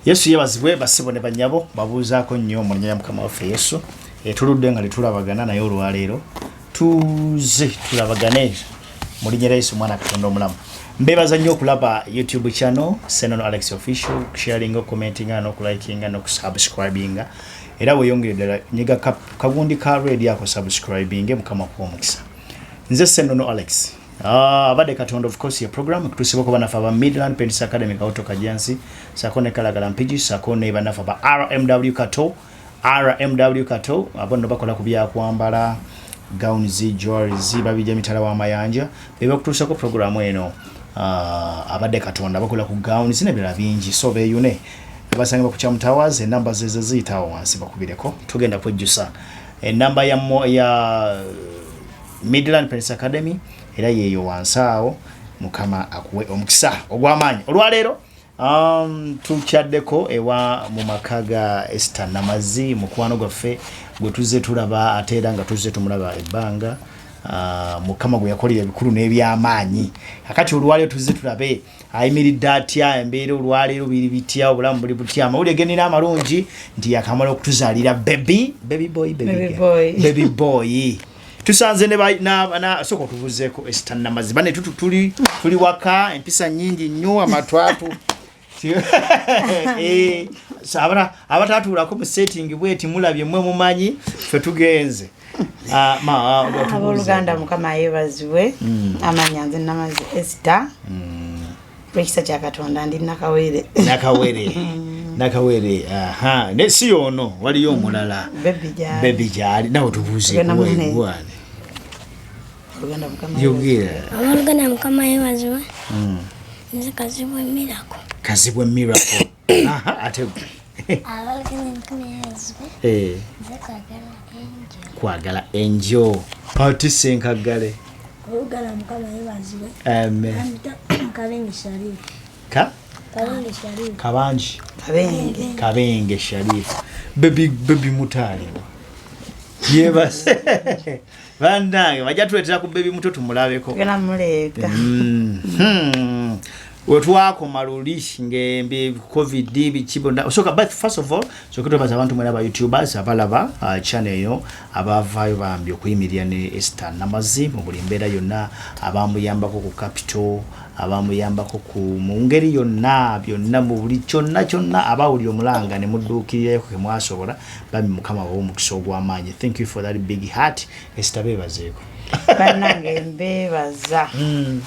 yesu yebazibwe basebo ne banyabo babuuzaako nnyo mu linnya lya mukama waffe yesu etuludde eh, nga tetulabagana naye olwaleero tuze tulabagane mu linnya lya yesu omwana katonda omulamu mbebaza nnyo okulaba youtube channel senono alex official okusharinga okumentinga nokulikinga nokusubscribinga era weyongere ddala nyiga kagundi ka redi ako subscribinge mukama kuwa omukisa nze senono alex Ah, abadde katonda of course ya program kutusiba kuba nafa ba Midland Pennis Academy kaoto kajansi sako ne kalagala mpiji sako ne banafa ba RMW Kato RMW Kato abono bakola kubya kwambala gown zi jewelry zi babija mitala wa mayanja bebe kutusa ko program eno ah, abadde katonda bakola ku gown zine bila bingi so be yune basanga ku chamu towers e number ze ze zitawo wansi bakubireko tugenda kujjusa e number ya mo, ya Midland Prince Academy era yeeyo wansi awo mukama akuwe omukisa ogw'amaanyi olwaleero um, tukyaddeko ewa mu maka ga Esther Namazi mukwano gwaffe gwe tuzze tulaba ate era nga tuzze tumulaba ebbanga uh, mukama gwe yakolera ebikulu n'ebyamaanyi kakati olwaleero tuzze tulabe ayimiridde atya embeera olwaleero biri bitya obulamu buli butya amawulire genina amalungi nti yakamala okutuzaalira bebi bebi boy bebi boy tusanze soka otubuzeko esitanamazi bane tuli tuli waka empisa nyingi nnyo amatwatu eh, abatatuulako mu setting bweti mulabye mwe mumanyi fe tugenze ah, ah, aboluganda mukama yebazibwe mm. amanya nze namazi esita mm. lwekisa kya katonda ndi nakawere nakawere nakawere aha ne si ono waliyo omulala bebi gyali nawe tubuuzekuwaegwane yogera awaluganda mukama yewaziwe hmm. nze kazibwe mirako kazibwe mirako ate eh. kwagala enjo pati senkaggale kabangi kabenge sharifu bebi mutaalibwa yebase banange bajja tuletera ku bebi muto tumulabeko mm. hmm. wetwakoma luli ngembi covid bikibnsokasoketubaza abantu mwena ba youtubers abalaba uh, chane eyo abavaayo bambi okuyimirira ne ester namazi mu buli mbeera yonna abamuyambako ku capital abamuyambako ku mu ngeri yonna byonna mu buli kyonna kyonna abawulira omulanga ne mudduukirirayo kemwasobola bambi mukama wawe omukisa ogwamaanyi thank you for that big heart esita bebazeeko banange mbebaza hmm.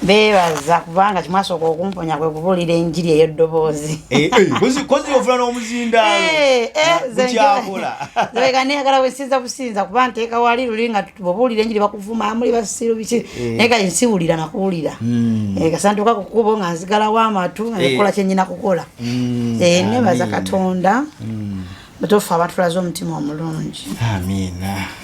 bebaza kubanga kimwasooka okumponya kwe kubuulira enjiri eyo ddoboozi eh, eh, kozi ofuna n'omuzindaaloekyaneyagala eh, wesinza businza kuba nteeka wali luli nga bobuulira enjiri bakuvuma muli basiru biki naye kati nsiwulira nakuwulira hmm. kasantuka kukubo nga nzigalawo amatu nga nekola kyenyina kukola mm, eh, nebaza katonda mm. butuufu abatulaze omutima omulungi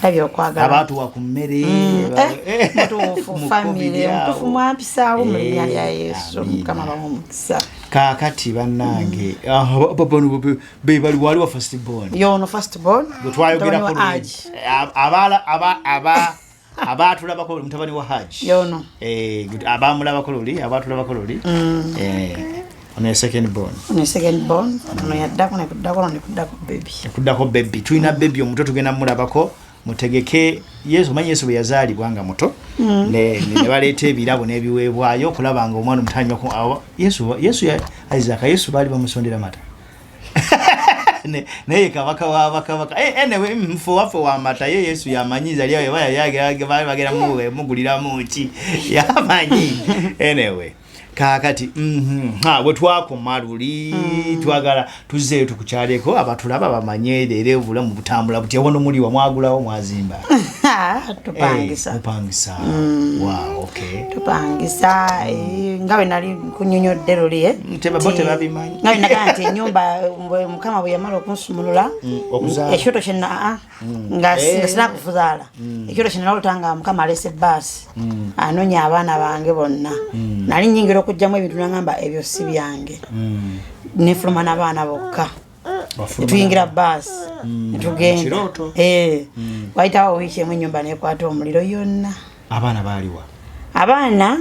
labye okwagalaabatuwa ku mmere mm, eh, eh, mutuufu famire mutuufu mwampisaawo mu linnya lya yesu mukama bawa omukisa kakati banange bebali waliwo fastbon yono fastbon bwetwayogerako abaala aba abaatulabako oli mutabani wa haji yono eh, abaamulabako luli abaatulabako luli mm. eh, ono ye second born ono ye second born ono yaddako nekuddako ono nekuddako bebi nekuddako bebi tulina bebi omuto tugenda mulabako mutegeke yesu omanyi yesu bwe yazaalibwa nga muto mm. nebaleeta ebirabo n'ebiweebwayo okulaba nga omwana omutanyo yesu isaka yesu baali bamusondera mata naye kabaka wa bakabaka eh, anyway mfu mm, waffe wamata ye yesu yamanyi zali ayo bagera muguliramu ki yamanyi anyway kakati mm-hmm. ha bwetwakoma luli mm. twagala tuzeeyo tukukyaleko abatulaba bamanye leero obulamu butambula butya wano muliwa mwagulawo mwazimba tupangisa eh, tupangisa mm. wow okay tupangisa eh, nga bwe nali kunyonyodde luli eh? mm, tebabimanyi ngali nagaa nti enyumba eh, mukama bwe yamala okunsumulula mm, ekyoto kyena ah, ah, mm. nga eh. sina kufuzaala mm. ekyoto kyena nalota nga mukama alese baasi anonya abaana bange bonna nali nyingira okugjamu ebintu nagamba ebyo si byange nefuluma nabaana bokka netuyingira baasi mm. netugenda eh. mm. wayitawo wiiki emu enyumba nekwata omuliro yonna abaana baliwa abaana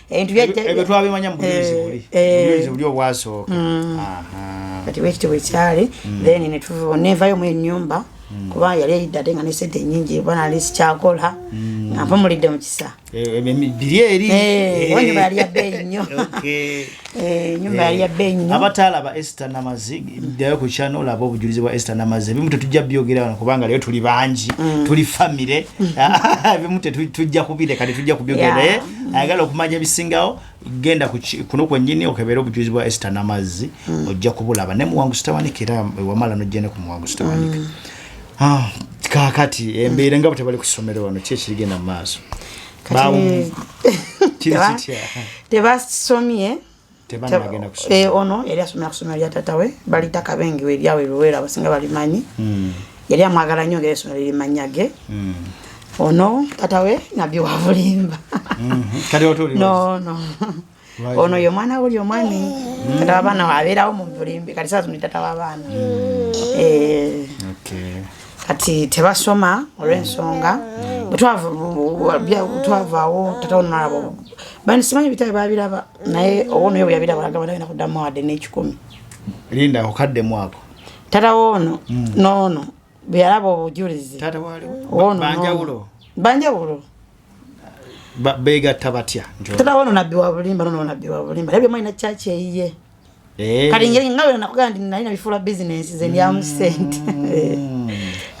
ebyo twabimanya mu bujulizi buli obujulizi buli obwasooka kati bwekityo bwekyali mm. then netuva nevayo mu enyumba mm. kuba yali eyidde ate nga nesente enyingi oba nali sikyakola mm. nga mpumulidde mu kisa eh, eh, biri eri eh, enyumba yali yabbeeyi nnyo enyumba yali yabbeeyi nnyo abataalaba ester namazi ddayo ku kyana olaba obujulizi bwa ester namazi ebimu tetujja byogera wano kubanga leyo tuli bangi tuli famire ebimu tetujja kubireka tetujja kubyogera naye mm. ayagala okumanya ebisingawo genda kuno kwenyini okebere obujuzi bwa esta namazzi mm. ojja kubulaba naye muwangu sitawanika era wamala nojjene ku muwangu sitawanika mm. ah, kakati embeera nga bwetebali ku ssomero wano ki ekirigenda mu maaso tebasomye eh, ono yali asomera kusomero lya tata we balita kabengi we lyawe luwera abasinga balimanyi hmm. yali amwagala nyo ngeri esomero lirimanyage hmm. ono tata we nabbi wabulimba hmm. nono ono ye omwana wuli omwami tata wabaana wabeerawo mu bulimbi kati saa zino tata wabaana eh. kati tebasoma olwensonga bwetwavaawo tataonalaba bani simanyi bitabe babiraba naye owonoyo bweyabiraba agamba tagenda kuddamu wadde n'ekikumi linda okadde mwako tata woono hmm. noono bweyalaba obujulizi banjawulo banjawulo begatta batya tata woono nabbi wabulimba nono nabbi wabulimba naye byomanyi na kyaki eyiye Eh. kati ngeri nga wena nakugamba nti nali nabifuula bizinensi ze ndyamu mm. sente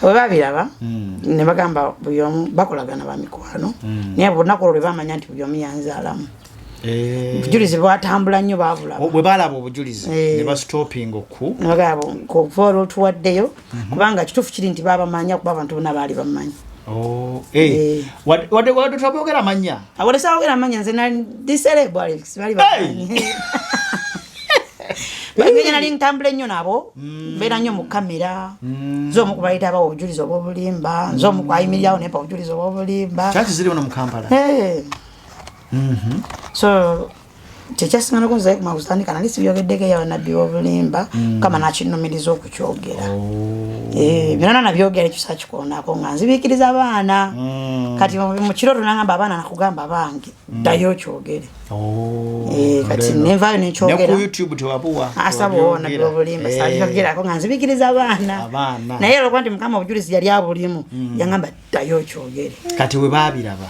bwe babiraba mm. ne bagamba buli omu bakolagana ba mikwano mm. naye olunaku olwo lwe bamanya nti buli omu yanzaalamu eh. obujulizi bwatambula nnyo baabulabwe balaba obujulizi eh. ne bastopinga okukuva olwotuwaddeyo mhm. kubanga kituufu kiri nti baabamanya kuba abantu bona baali bamanyi oh, eh. eh. wadetwabogera manya awadesabogera manya nze nadiserebali bamanyi bagenda nali ntambula ennyo nabo mm. mbeera nnyo mu kamera mm. nze omu kubayita abawa obujulizi obwobulimba nze omu kwayimirirawo nempa obujulizi obwobulimba kyaki ziri ono mu kampala eh. mhm. so kyekyasinganako nzaye kuma kutandika nali sibyogeddeko eya banabbi bobulimba mm. kama nakinumiriza okukyogera oh. eh, byona nabyogera ekyusa kikoonako nga nzibikiriza abaana mm. kati mukiro tunagamba abaana nakugamba bange mm. ddayo okyogere oh, eh, kati nenvayo nekyogeraasabona ah, byobulimba eh. sabyogerako nga nzibikiriza abaana naye olwokuba nti mukama obujulizi yali abulimu yangamba ddayo okyogere kati webabiraba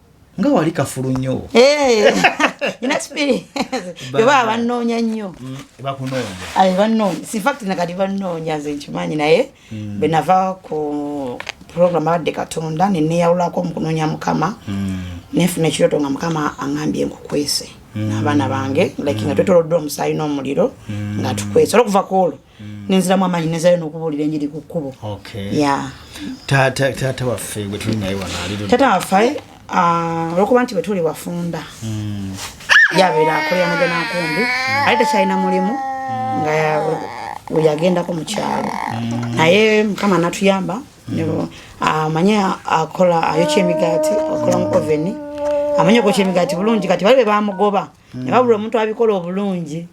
nga wali kafulu nnyo eh, ina spirit beba abannoonya nnyo mm, bakunoonya bannoonya si fact na kati bannoonya nze nkimanyi naye mm. bwe nava ku program abadde katonda ne neeyawulako mu kunoonya mukama mm. nenfuna ekirooto nga mukama aŋambye nkukwese n'abaana bange like nga twetoloddwa omusaayi n'omuliro nga tukwese olwokuva ku olwo nenziramu amaanyi nezayo nokubuulira enjiri ku kkubo taata waffe gwe tuli naye wanaaliru taata waffe ah, olwokuba nti bwetuli wafunda hmm. yabeera akolera muge nankumbi hmm. ate tekyalina mulimu hmm. nga weyagendako mu kyalo naye mukama natuyamba amanye ah, akola ayokya emigaati akola mu oveni amanye okwokya emigaati bulungi kati bali bebamugoba nebabula omuntu abikola obulungi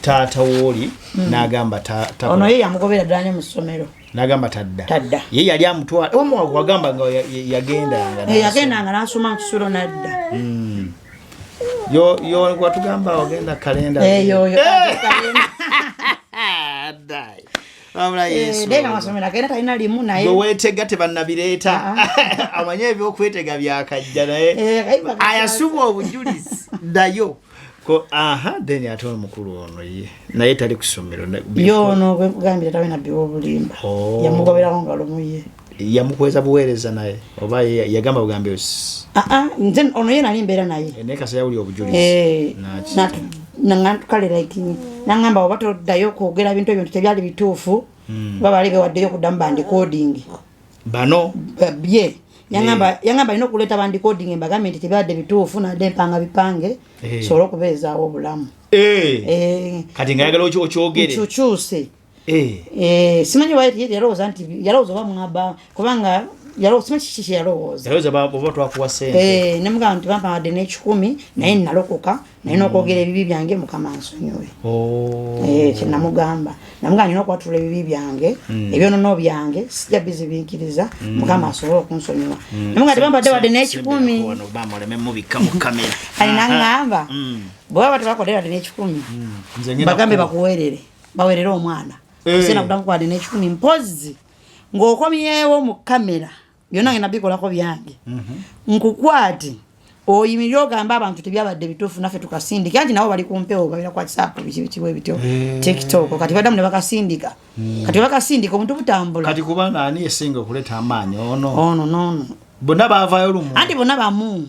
taata wooli mm. nagamba ono ye yamugobera ddanya mu ssomero nagamba tadda tadda ye yali amutwala wagamba nga yagendanga eh, yagendanga nasoma mukisulo nadda mm. yo yo watugamba wagenda kalenda eyo eh, weweetega tebanabireeta ah, ah. amanye ebyokwetega byakajja naye eh, ayasubwa obujulizi nayo ko aha then ate omukulu ono ye naye tali ku ssomero yoono gwekugambira tawe nabbi wobulimba oh. yamugoberawo nga lumu ye yamukweza buweereza naye oba yagamba bugambe ah, ah, nze ono ye nali mbeera naye eh, naye kasa yawuli obujulizi eh, nantukale like nangamba oba toddayo kwogera bintu ebyo nti tebyali bituufu hmm. oba bali bewaddeyo okuddamu bandikoodingi bano babye yangamba eh. yangamba alina okuleeta bandicoding embagambe nti tebibadde bituufu nadde empanga bipange eh. sobola okubeezaawo obulamu eh. kati nga yagala okyogere kyukyuse simanyi yalowooza nti yalowooza oba mwaba kubanga yalowooza nemugamba nti bampawadde n'ekikumi naye nalokoka mm. naye nokwogera ebibi byange mukama nsonyiwe oh. eh, kyenamugamba namugamba nina okwatula ebibi byange hmm. ebyonono byange sija bizibinkiriza hmm. mukama asobole okunsonyiwa hmm. namuga tebambadde wadde nekikumi ali naŋamba bweba batebakodde wadde nekikumi bagambe bakuwerere bawerere omwana eh. sena kudamu kwadde nekikumi mpozi ng'okomyewo mu kamera byonna ngenda bikolako byange mhm. nkukwate oyimirire ogamba abantu tebyabadde bituufu naffe tukasindike anti nabo bali kumpewo babira kwa kisapu bikibikibu ebityo eh. tiktok kati badamu ne bakasindika hmm. kati bakasindika omuntu butambula kati kubanga ani esinga okuleeta amaanyi ono ono nono bonna bavayo lumu anti bonna bamu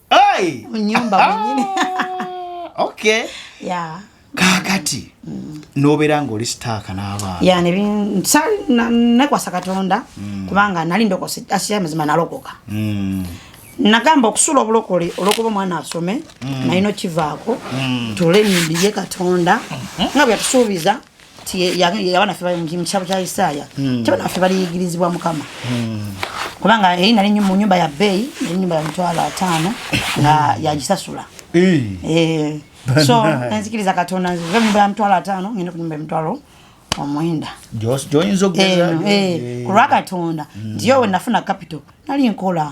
Hey! Munyumba mwenyini. okay. Yeah. Kakati. Mm. Nobera ngoli star kana aba. Yeah, ne bin sari na ne kwa sakatonda mm. kubanga nali ndoko asiya mzima nalokoka. Mm. Nagamba okusula obulokole olokuba mwana asome mm. na ino kivako mm. tule nimbiye katonda mm -hmm. ngabya tusubiza abaana fe mu kitabo kya isaaya hmm. tebana fe baliyigirizibwa mukama hmm. kubanga eri nali mu nyumba ya bbeeyi nali nyumba ya mitwalo ataano nga hmm. yagisasula eh. so enzikiriza katonda nzive mu nyumba ya mitwalo ataano ngende ku nyumba ya mitwalo omwenda gyoyinza okugeza eh, eh, ku lwa katonda nti yo wenafuna kapito nali nkola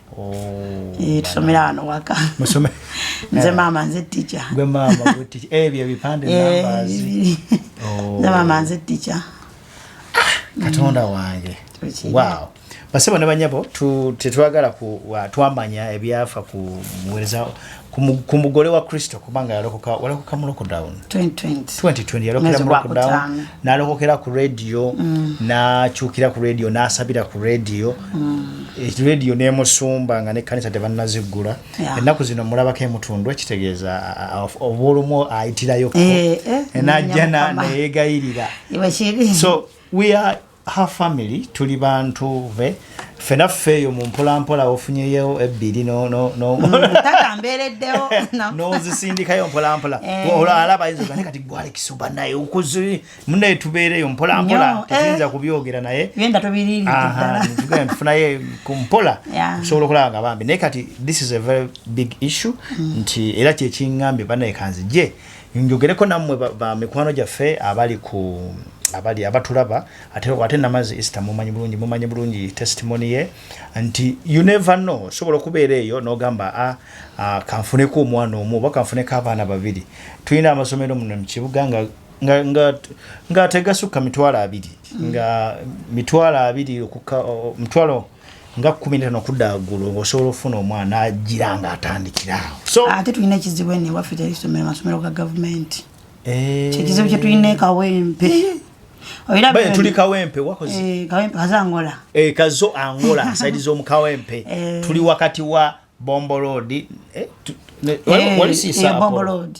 Eh, tusomera wano waka nze maama nze tica ebyo ebipande nze maama nze tica katonda wange wow basebo ne banyabo tetwagala twamanya ebyafa ku muwereza ku mugole wa kristo kubanga yalokoka walokoka mu lockdown 2020 yalokera mu lockdown nalokokera ku radio mm. nakyukira ku radio nasabira ku radio mm. eh, radio nemusumba nga nekkanisa tebanaziggula ennaku zino mulabako emutundu ekitegeeza obwolumu ayitirayo eh, eh, najja neyegayirira so we are her family tuli bantu be fena ffe eyo mumpolampola ofunyeyo ebbiri notambeereddewo mm, nozisindikayo mpolampola eh. olwala bayinza ogane kati gwalekisa oba naye okuzi munaye tubeereyo mpolampola tetuyinza eh. kubyogera naye tufunaye kumpola osobola okulaba nga bambi naye kati this is a very big issue mm. nti era kyekiŋambye banaye kanzije njogereko nammwe ba mikwano gyaffe abali ku abali abatulaba ate ate namazi Easter mumanyi bulungi mumanyi bulungi testimony ye nti you never know sobola kubeera eyo nogamba a ah, ah, kanfuneko omwana omu oba kanfuneko abaana babiri tulina amasomero muno mukibuga nga nga nga nga tegasukka mitwalo abiri nga mitwalo abiri okukka mitwalo nga kumi netano okudda waggulu ng'osobola okufuna omwana agira nga atandikira awo so ate tulina ekizibu eno ewaffe teri somero masomero ga gavumenti eh. kyekizibu kyetulina ekawempe Bae tuli kawempe wakozi. Eh, kawempe kaza angola. Eh, kazo angola saidi zo mkawempe. Eh. Tuli wakati wa Bombo Road. Eh, tu, ne, eh, wali, wali si eh, Bombo Road.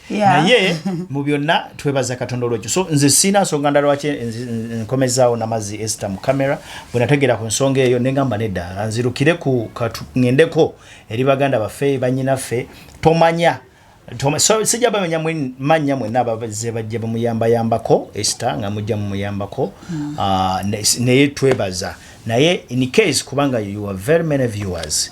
naye mu byonna twebaza katonda olwekyo so nze siina nsonga nda lwaki nkomezaawo namazi esta mu kamera bwenategeera ku nsonga eyo nengamba nedda nzirukire ku ngendeko eri baganda baffe banyinaffe tomanya sijja bamenya mannya mwena abaze bajja bamuyambayambako esta nga mujja mumuyambako hmm. ah, naye twebaza naye in case kubanga you are very many viewers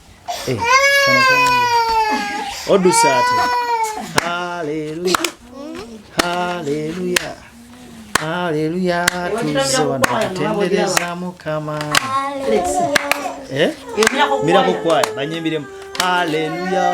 Eh, Odusate. Hallelujah. Hallelujah. Hallelujah. Tuze wano kutendereza mukama. Eh? Mira ko kwaya banyimbiremu. Hallelujah.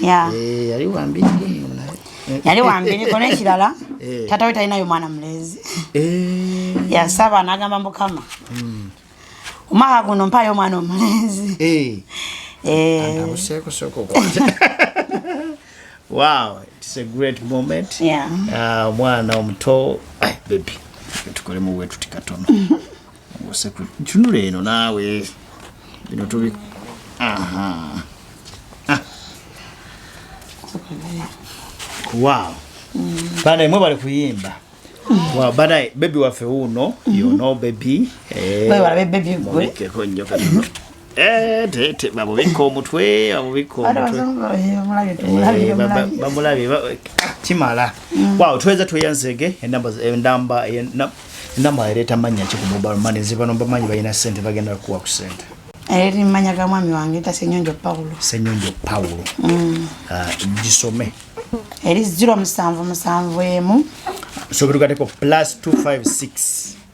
yeah. eh, yali wambi yali wambi niko nekirala eh. tata we talinayo mwana mulezi eh. yasaba nagamba mukama mm. omwaka guno mpayo omwana omulezi eh. eh. wow it's a great moment yeah. uh, mwana omuto baby tukolemu wetuti katono tunula eno naawe bino tubi ah. wow bana imwe bali kuyimba wow bana bebi waffe uno yono bebi eh, bebi Eh, babubikka omutwe bamulabye eh, kimala mm. waw tuweza tweyanzege enamba eh, ereeta mannya ki ku mobile money zibano bamanyi balina sente bagenda kukuwa ku sente eri manya ga mwami wange ta senyonjo paulo senyonjo paulo mm. ah, gisome eri ziro musanvu musanvu emu sobetugateko plus 256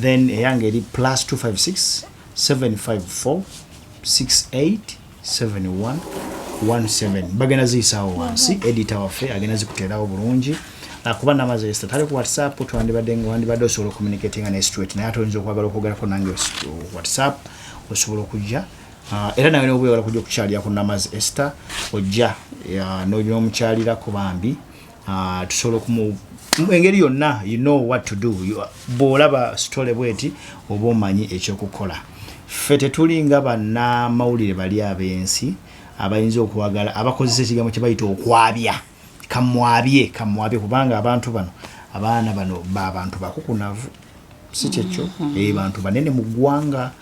then eyange eri plus 256 754 6871 17 bagenda ziyisaawo wansi edita waffe agenda zikuteerawo bulungi ah, kuba namaze esta tali ku whatsapp twandibadde nga wandibadde osobola ocommunicatinga ne street naye ate oyinza okwagala okwogerako nange whatsapp osobola okujja ah, era nawe nobwewala kujja okukyalira ku namazi esta ojja ah, nomukyalirako bambi Ah, tusobola okumu engeri yonna you know what to do bw'olaba sitole bweti oba omanyi ekyokukola ffe tetulinga bannamawulire bali ab'ensi abayinza okwagala abakozesa ekigambo kye bayita okwabya kamwabye kamwabye kubanga abantu bano abaana bano babantu bakukunavu si kyekyo mm-hmm. eh, bantu banene mu ggwanga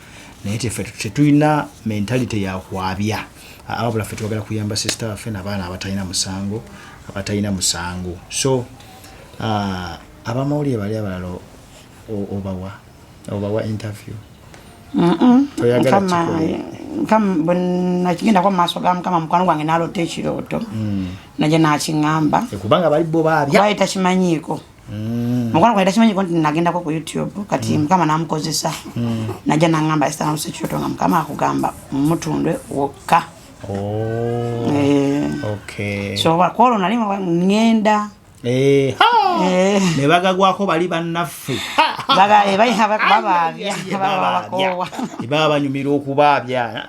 naye tefe tetulina mentalite yakwabya ababula fe twagala kuyamba sisita waffe nabaana abatalina musango abatalina musango so ah, abamawulire bali abalala obawa obawa interview bwenakigendako mumaaso ga mukama mukwano gwange nalota ekirooto mm. naye nakiŋamba eh, kubanga bali bo babya takimanyiiko Mm. Mukwano gwange takimanyiko nti nagendako ku YouTube kati mm. mukama namukozesa mm. najja nangamba esitamusa ekyoto nga mukama akugamba mumutundwe wokka oh. eh. so kwolwo nali ngenda eh, eh. nebagagwako bali bannaffe baba banyumira okubaabya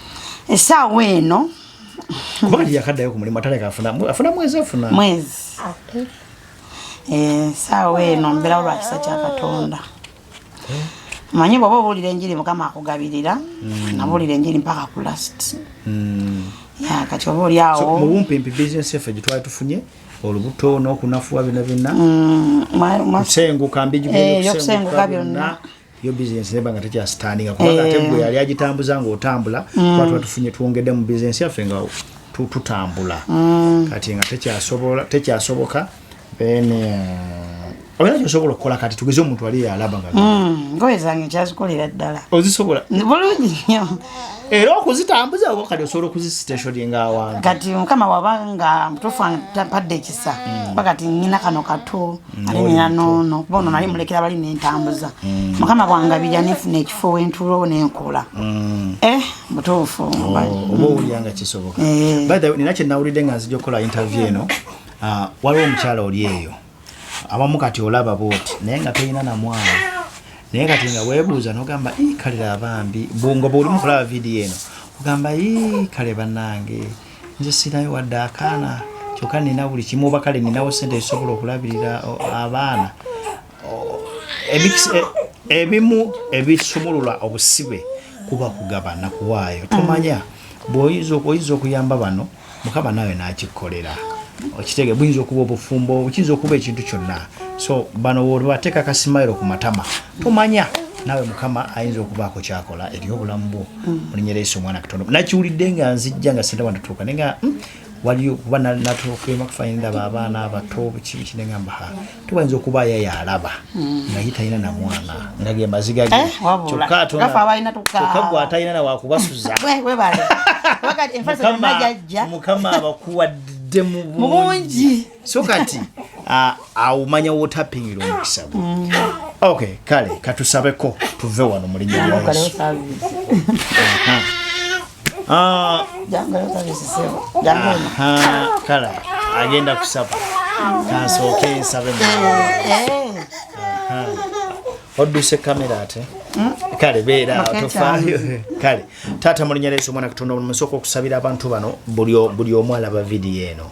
esaawa eno kubanga teyakaddayo ku mulimu ataleka afuna mwezi afuna mwezi esaawa eh, eno mbeerawo lwa kisa kya katonda eh? manyi bwoba obuulira enjiri mukama akugabirira hmm. nabuulira enjiri mpaka ku last hmm. ya kati oba oli awo mu bumpimpi bizinesi effe gye twali tufunye olubuto n'okunafuwa byonna byonna hmm, kusenguka mbijyokusenguka byonna yo business neba nga tekya standing kuba eh. ate gwe yali agitambuza nga otambula mm. watu watufunye tuongede mu business yaffe nga tutambula mm. kati nga tekya sobola tekya soboka then uh, oyina kyosobola okukola kati tugeze omuntu ali yalaba nga mm. ngoye zange nkyazikolera ddala ozisobola bulungi nyo era okuzitambuza oba kati osobola okuzisitationi nga awantu kati mukama wabanga mutufu ampadde ekisa mm. bakati nyina kano kato ate nina noono kuba ono nali mulekera bali nentambuza mm. mukama bwangabirya nenfuna ekifo wentuulowo nenkola mm. eh, butuufu oh, oba owulira nga kisoboka eh. nina kyenawulidde nga nzija okukola interview eno ah, waliwo omukyala oli eyo abamu kati olaba booti naye nga tolina namwana naye kati nga webuuza nogamba kalira abambi bungoba oli mukulaba vidiyo eno ogamba kale banange nze sirayo wadde akaana kyokka nina buli kimu oba kale ninawo sente ezisobola okulabirira abaana e, ebimu ebisumulula obusibe kuba kugabana kuwaayo tomanya bwoyinza okuyamba bano mukama nawe nakikolera okitege buyinza okuba obufumbo kiyinza okuba ekintu kyonna so bano wolibateeka kasimayiro ku matama tomanya nawe mukama ayinza okubaako kyakola eri obulamu bwo mm. olinyera yesu omwana katondo nakiwulidde nga nzijja nga sindaba natuuka naye nga mm, waliyo kuba natuukaema kufanyi ndaba abaana abato bukibiki naye ngamba ha tubayinza okuba aya yalaba mm. naye talina na mwana nga ge maziga ge eh, kyokka gwe atalina na wakubasuza mukama abakuwadde mu bungi so kati awumanya wotapingila omukisa gwe mm. ok kale katusabeko tuve wano mulinyaaso kale agenda kusaba kansooke nsabe odduse kamera ate hmm? kale beera tofaayo kale taata mulinya leeso omwana katonda musooka okusabira abantu bano buli omu alaba vidiyo eno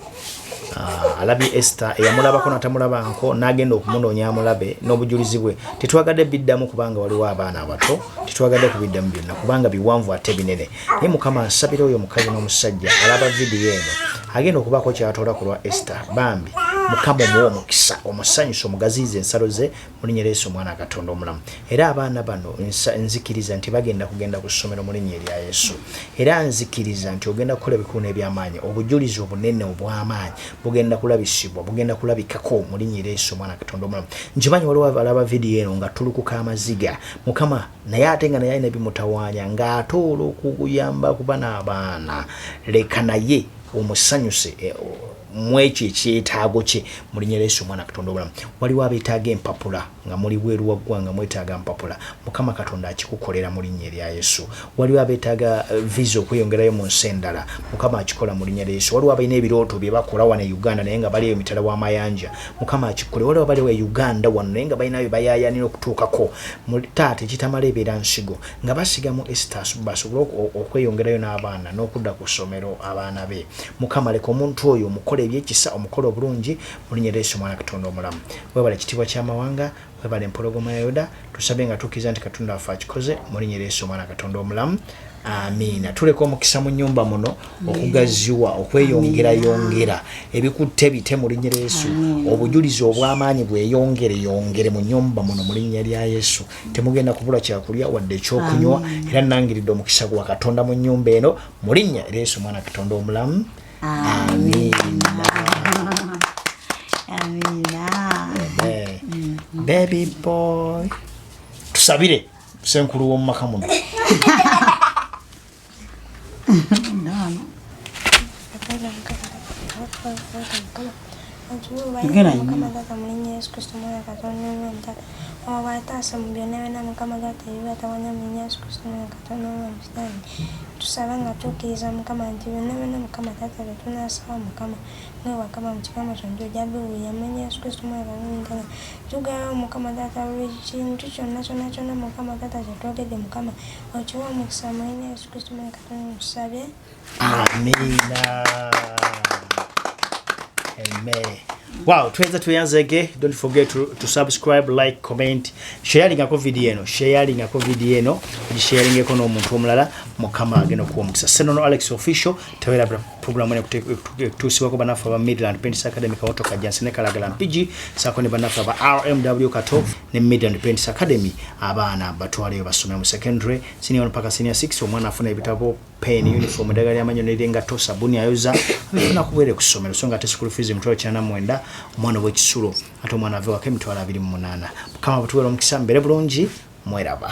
Ah, alabye ester eyamulabako natamulabanko nagenda okumunoonya amulabe n'obujulizi bwe tetwagadde biddamu kubanga waliwo abaana abato tetwagadde kubiddamu byonna kubanga biwanvu ate binene naye mukama nsabira oyo omukazi n'omusajja alaba vidiyo eno agenda okubaako kyatoola ku lwa ester bambi mukama omuwa omukisa omusanyusa omugaziiza ensalo ze mulinya yesu omwana katonda omulamu era abaana bano nzikiriza nti bagenda kugenda ku ssomero mulinya erya yesu era nzikiriza nti ogenda kukola ebikulu n'ebyamaanyi obujulizi obunene obw'amaanyi bugenda kulabisibwa bugenda kulabikako mulinya era yesu omwana katonda omulamu nkimanyi waliwo alaba vidiyo eno nga tulukuka amaziga mukama naye ate nga naye alina bimutawaanya ng'ate olwokuyamba kuba n'abaana leka naye omusanyuse eh, mwekyo ekyetaago kye mulinya leesu omwana katonda obulamu waliwo abetaaga empapula nga muli bweru waggwa nga mwetaaga mpapula mukama katonda akikukolera mu linnya erya yesu waliwo abetaaga eh, visa okweyongerayo mu nsi endala mukama akikola mu linnya lya yesu waliwo abalina ebirooto bye bakola wano e uganda naye nga baliyo emitala w'amayanja mukama akikole waliwo abaliwo e uganda wano naye nga balinayo bayayanira okutuukako taata ekitamala ebeera nsigo nga basigamu estas basobole okweyongerayo n'abaana n'okudda ku ssomero abaana be Mukama leka omuntu oyo omukole ebyekisa omukole obulungi mulinya lyesu mwana katonda omulamu webale kitibwa kyamawanga webale empologoma ya yoda tusabe nga tukiza nti katonda wafe akikoze mulinya lyesu mwana katonda omulamu amiina tuleka omukisa mu nyumba muno okugaziwa okweyongera yongera ebikutte bite mu linya lyesu obujulizi obwamaanyi bweyongere yongere mu nyumba muno mu linnya lya yesu temugenda kubula kyakulya wadde ekyokunywa era nangiridde omukisa gwa katonda mu nyumba eno mu linnya era yesu omwana katonda omulamu amiina amiina baby boy tusabire senkulu w'omumaka muno Mukama taata ebibi atawanya mu Yesu Kristo mwaka tusaba nga tukkiriza mukama nti byonna byonna mukama taata bye tunaasaba mukama mwe wakama mu kikama kyonna ojja biwulira mu yesu kristo mwe bawulindala tugawo mukama taata buli kintu kyonna kyonna kyonna mukama taata kye twogedde mukama okiwa omukisa mu yesu kristo mwe katonda tusabye Amina. Amen. Wow, tuweza tuyanzege. Don't forget to, to subscribe, like, comment, sharing ako video eno, sharing ako video eno, sharing eko no muntu omulala mukama agenda kuwa mukisa. Seno no Alex official tawera program ene kutusiwa ko banafa ba Midland Pentis Academy ka otoka jansi ne kalagala mpiji sako ne banafa ba RMW kato ne Midland Pentis Academy abana batwale basome mu secondary senior mpaka senior 6 omwana afuna ebitabo pen uniform eddagala lyamanyo nerengato sabuni ayoza abifuna kubwere ku ssomero so nga ate school fees emitwalo kinana mwenda omwana owekisulo ate omwana avewako emitwalo abiri mu munaana mukama butuwera omukisa mbeere bulungi mweraba